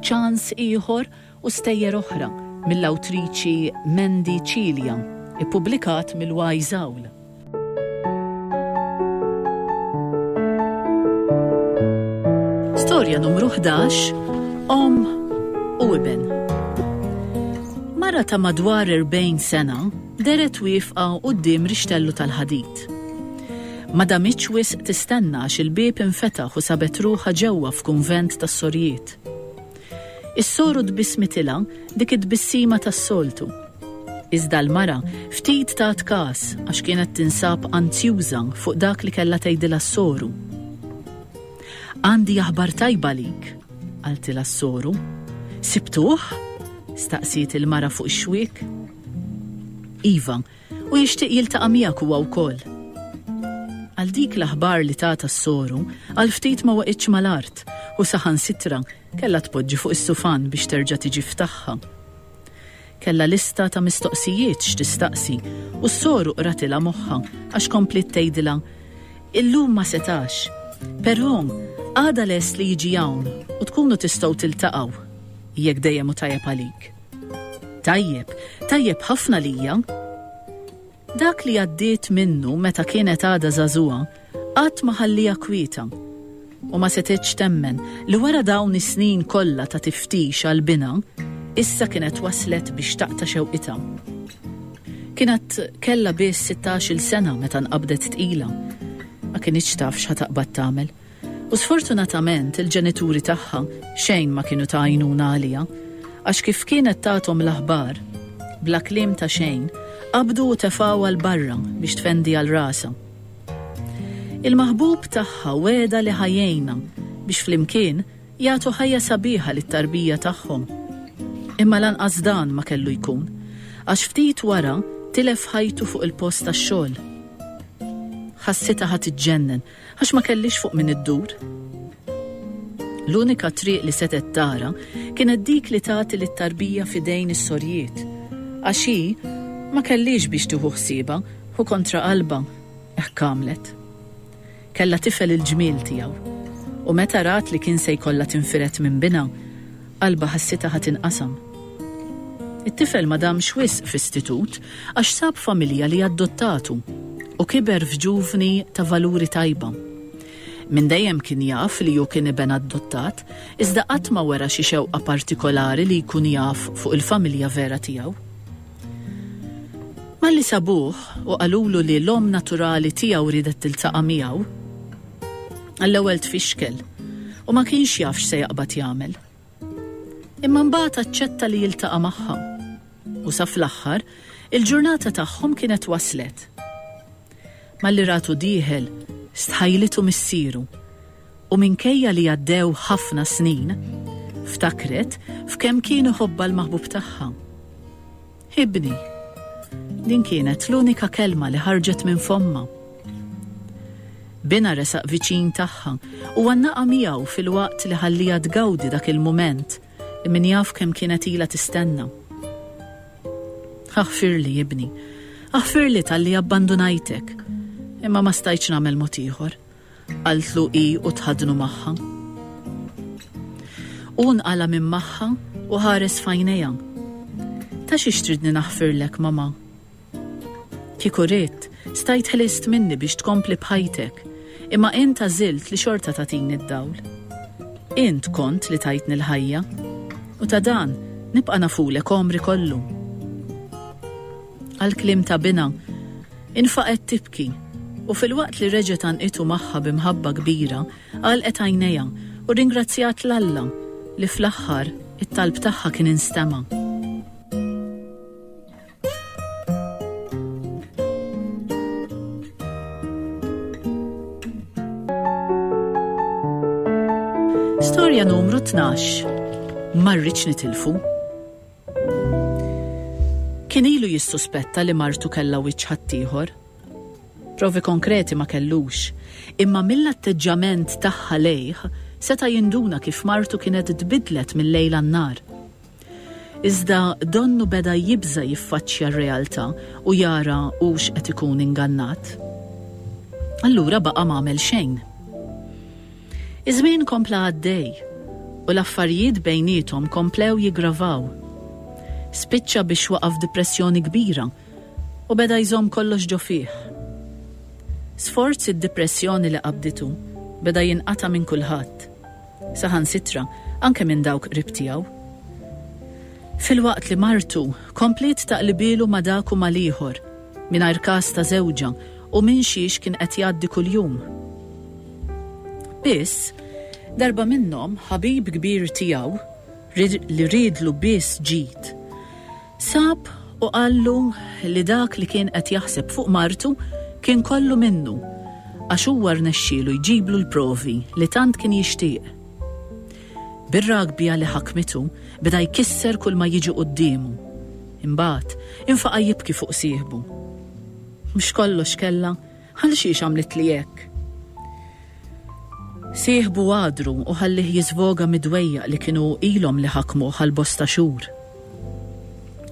ċans ieħor u stejjer oħra mill-awtriċi Mandy Cilia, ippubblikat mill-Wise Owl. Storja numru 11 Om u Iben. Mara ta' madwar 40 sena deret wifqa quddiem rixtellu tal-ħadid. ħadd. Ma damitx wisq tistenna għax il-bieb infetaħ u sabet ruħha ġewwa f'kunvent tas-sorijiet. Is-soru tbissmitilha dik it-tbissima tas-soltu. Iżda l-mara ftit tat każ għax kienet tinsab anzjuża fuq dak li kellha tgħidilha s-soru. Għandi aħbar tajba lik, qaltilha s-soru. Sibtuh? staqsiet il-mara fuq ix-xwiek. Iva, U jixtieq jiltaqa' miegħek huwa wkoll. Għal dik l-aħbar li tatha s-soru, għal ftit ma waqgħitx mal-art u saħansitra kellha tpoġġi fuq is-sufan biex terġa' tiġi f'tagħha. Kellha lista ta' mistoqsijiet x'tistaqsi u s-soru qratilha moħħha għax kompliet tgħidilha, Illum ma setax, però għada lest li jiġi hawn u tkunu tistgħu tiltaqgħu, jekk dejjem hu tajjeb għalik. Tajjeb, tajjeb ħafna lija. Dak li għaddiet minnu meta kienet għadha żagħżugħa qatt ma ħallieha kwieta u ma setgħetx temmen li wara dawn is-snin kollha ta' tiftix għal binha, issa kienet waslet biex taqta' xewqitha. Kienet kellha biss sittax-il sena meta nqabdet tqila. Ma kinitx taf x'ħa taqbad tagħmel. U sfortunatament il-ġenituri tagħha xejn ma kienu ta' għajnuna għaliha, għax kif kienet tagħthom l-aħbar, bla kliem ta' xejn, qabdu u tefgħuha 'l barra biex tfendiha 'l rasha. Il-maħbub tagħha wegħedha li ħa jgħinha biex flimkien jagħtu ħajja sabiħa lit-tarbija tagħhom. Imma lanqas dan ma kellu jkun, għax ftit wara tilef ħajtu fuq il-post tax-xogħol. Ħassitha ħa tiġġennen Għax ma kellhiex fuq min iddur. L-unika triq li setgħet tara kienet dik li tagħti lit-tarbija f'idejn is-sorjiet, għax hi ma kellhiex biex tieħu ħsiebha u kontra qalbha hekk għamlet. Kellha tifel il-ġmiel tiegħu u meta rat li kien se jkollha tinfired minn binha, Qalbha ħassitha ħa tinqasam. It-tifel ma damx wisq f'istitut għax sab familja li adottatu u kiber f'ġuvni ta' valuri tajba. Minn dejjem kien jaf li hu kien iben adottat iżda qatt ma wera xi xewqa partikolari li jkun jaf fuq il-familja vera tiegħu. Malli sabuh u qalulu li l-omm naturali tiegħu riedet tiltaqa' miegħu, għall-ewwel tfixkel u ma kienx jaf x'se jaqbad jagħmel. Imma mbagħad aċċetta li jiltaqa' magħha. U sa fl-aħħar, il-ġurnata tagħhom kienet waslet. Malli ratu dieħel, stħajlitu missieru, u minkejja li għaddew ħafna snin, ftakret f'kemm kien iħobbha l-maħbub tagħha. Ibni. Din kienet l-unika kelma li ħarġet minn fommha. Binha resaq viċin tagħha u għannaqa miegħu filwaqt li ħalliha tgawdi dak il-mument li min jaf kemm kienet ilha tistenna. Aħfirli, ibni. Aħfirli talli abbandunajtek. Imma ma stajtx nagħmel mod ieħor, qaltlu hi u tħaddnu magħha. Hu nqala' minn magħha u ħares f'għajnejha. Ta' xiex tridni naħfirlek, Mama? Kieku ridt, Stajt ħlist minni biex tkompli b'ħajtek, imma int għażilt li xorta tagħtini d-dawl. Int kont li tajtni l-ħajja, u ta' dan nibqa' nafulek għomri kollu. Għall-kliem ta' binha, infaqgħet tibki, u filwaqt li reġgħet għannqitu magħha bi mħabba kbira, għalqet għajnejha u rringrazzjat 'l Alla li fl-aħħar it-talb tagħha kien instema'. Storja numru 12. Marriċ nitilfu. Kien ilu jissuspetta li martu kella wiċċ ħaddieħor. Provi konkreti ma kellux, imma mill-atteġġament tagħha lejh seta' jinduna kif martu kienet tbidlet mill-lejl għan-nar. Iżda donnu beda jibża' jiffaċċja r-realtà u jara hux qed ikun ingannat. Allura baqa' m'għamel xejn. Iż-żmien kompla għaddej u l-affarijiet bejniethom komplew jiggravaw. Spiċċa biex waqa' f'dipressjoni kbira u beda jżomm kollox ġo fih. Sforz id-dipressjoni li qabditu beda jinqata' minn kulħadd. saħansitra anke minn dawk qrib tiegħu. Filwaqt li martu kompliet taqlibielu ma' dak u mal-ieħor, mingħajr każ ta' żewġha u minn xiex kien qed jgħaddi kuljum. Biss, darba minnhom ħabib kbir tiegħu, li riedlu biss ġid, Sab u qallu li dak li kien qed jaħseb fuq martu kien kollu minnu għax huwa rnexxielu jġiblu l-provi li tant kien jixtieq. Bir-ragbja li ħakmitu beda jkisser kull ma jiġi quddiemu. Imbagħad infaqa' jibki fuq sieħbu. Mhux kollox kellha Għalxiex għamlitli hekk? Sieħbu għadru u ħallih jiżvoga mid-dwejjaq li kienu ilhom li ħakmuh għal bosta xhur.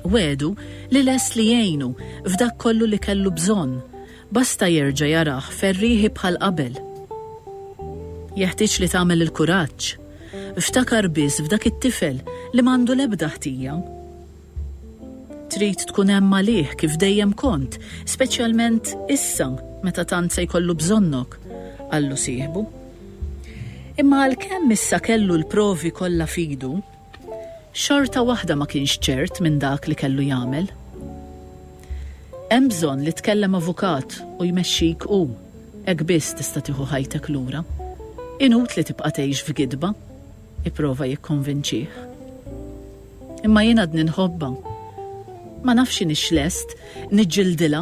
Wegħdu li lest li jgħinu f'dak kollu li kellu bżonn, basta jerġa' jarah ferrieħi bħal qabel. Jeħtieġ li tagħmel il-kuraġġ. Ftakar biss f'dak it-tifel li m'għandu l-ebda ħtija. Trid tkun hemm għalih kif dejjem kont, speċjalment issa meta tant se jkollu bżonnok, qallu sieħbu. Imma għalkemm issa kellu l-provi kollha f'idu, xorta waħda ma kienx ċert minn dak li kellu jagħmel. Hemm bżonn li tkellem avukat u jmexxik hu, hekk biss tista' tieħu ħajtek lura. Inutli tibqa' tgħix f'gidba. Ipprova jikkonvinċih. Imma jien għadni nħobbha. Ma nafx inhix lest niġġildilha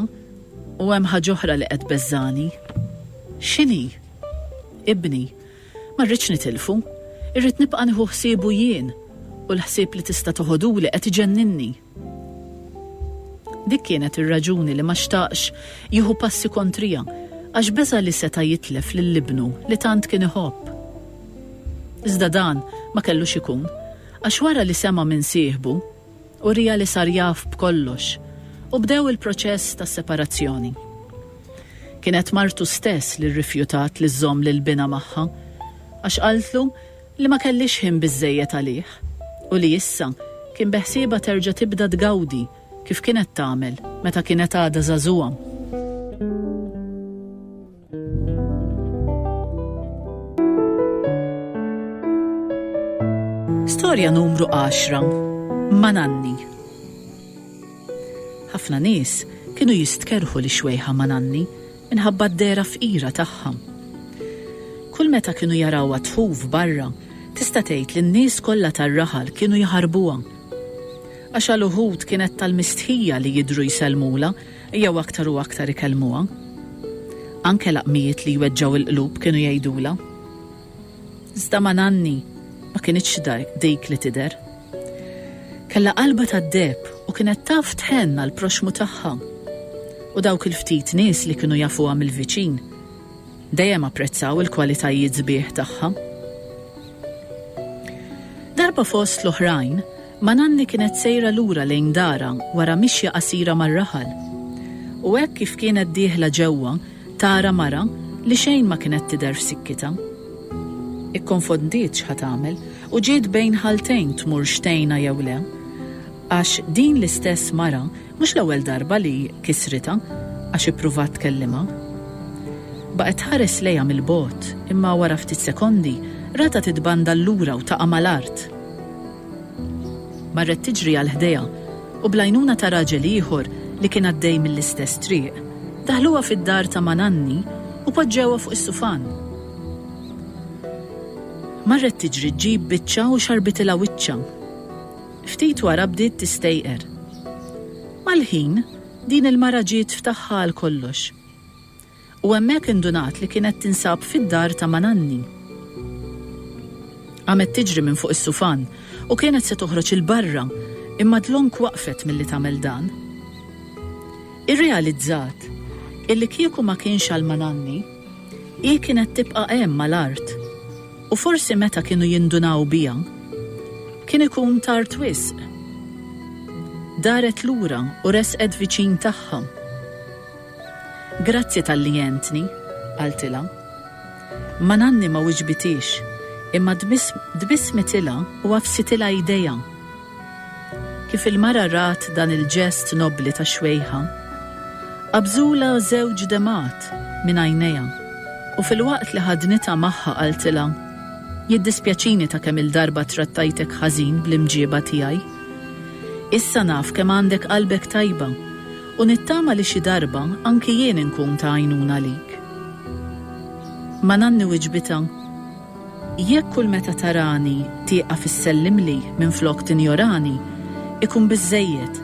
u hemm ħaġa oħra li qed tbeżżagħni. X'inhi? Ibni. Ma rridx nitilfu. Irrid nibqa' nieħu ħsiebu jien u l-ħsieb li tista' toħoduli qed iġenninni. Dik kienet ir-raġuni li ma xtaqx jieħu passi kontrija, għax beża' li seta' jitlef lil ibnu li tant kien iħobb. Iżda dan ma kellux ikun, għax wara li sema' minn sieħbu, uriha li sar jaf b'kollox, u bdew il-proċess ta' separazzjoni. Kienet martu stess li rrifjutat li żżomm lil binha magħha, għax qaltlu li ma kellhiex ħin biżżejjed għalih u li issa kien beħsiebha terġa' tibda tgawdi kif kienet tagħmel meta kienet għadha żagħżugħa. Storja numru għaxra, Ma' Nanni. Ħafna nies kienu jistkerħu li xwejħa ma' Nanni minħabba d-dehra fqira tagħha. Kull meta kienu jarawha tħuf barra, tista' tgħid li n-nies kollha tar-raħal kienu jħarbuha. Għax għal uħud kienet tal-mistħija li jidhru jsellmulha jew aktar u aktar ikellmuha. Anke laqmijiet li jweġġgħu l-qlub kienu jgħidulha. Iżda ma' Nanni ma kinitx dik li tidher. Kellha qalbha tad-deheb u kienet taf tħenn għall-proxxmu tagħha. U dawk il-ftit nies li kienu jafuha mill-viċin dejjem apprezzaw il-kwalitajiet sbieħ tagħha. Darba fost l-oħrajn, ma' Nanni kienet sejra lura lejn darha wara mixja qasira mar-raħal. U hekk kif kienet dieħla ġewwa, Tara mara li xejn ma kienet tidher f'sikkitha. Ikkonfondiet x'ħa tagħmel u ġiet bejn ħaltejn tmurx tgħinha jew le. Għax din l-istess mara mhux l-ewwel darba li kisritha għax ippruvat tkellimha. Baqgħet tħares lejha mill-bogħod imma wara ftit sekondi ratha titbandal lura u taqa' mal-art. Marret tiġri għal ħdejha u bl-għajnuna ta' raġel ieħor li kien għaddej mill-istess triq, daħluha fid-dar ta' ma' nanni u poġġewha fuq is-sufan. Marret tiġri ġġib biċċa u xarbitilha wiċċha. Ftit wara bdiet tistejqer. Mal-ħin, din il-mara ġiet f'tagħha għal kollox. u hemmhekk indunat li kienet tinsab fid-dar ta' mananni. Qamet tiġri minn fuq is-sufan u kienet se toħroġ 'il barra imma dlonk waqfet milli tagħmel dan. Irrealizzat illi kieku ma kienx għal mananni, hi kienet tibqa' hemm mal-art u forsi meta kienu jindunaw biha, kien ikun tard wisq. Daret lura u resqet viċin tagħha. Grazzi talli għentni, qaltilha. Mananni ma wiġbitiex, imma tbissmitilha u għaffsitilha idejha. Kif il-mara rat dan il-ġest nobbli ta' xwejħa, qabżulha żewġ demgħat minn għajnejha u filwaqt li ħadnitha magħha qaltilha, Jiddispjaċini ta' kemm-il darba trattajtek ħażin bl-imġieba tiegħi. Issa naf kemm għandek qalbek tajba U nittama li xi darba anki jien inkun ta' għajnuna għalik. Ma nanni wiġbitha, Jekk kull meta tarani tieqaf issellimli minflok tinjorani, ikun biżżejjed,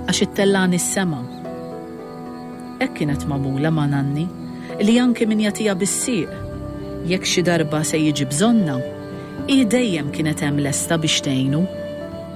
għax ittellagħni s-sema. Hekk kienet magħmula ma' nanni, li anki min jagħtiha bis-sieq, jekk xi darba se jiġi bżonnha, hi dejjem kienet hemm lesta biex tgħinu.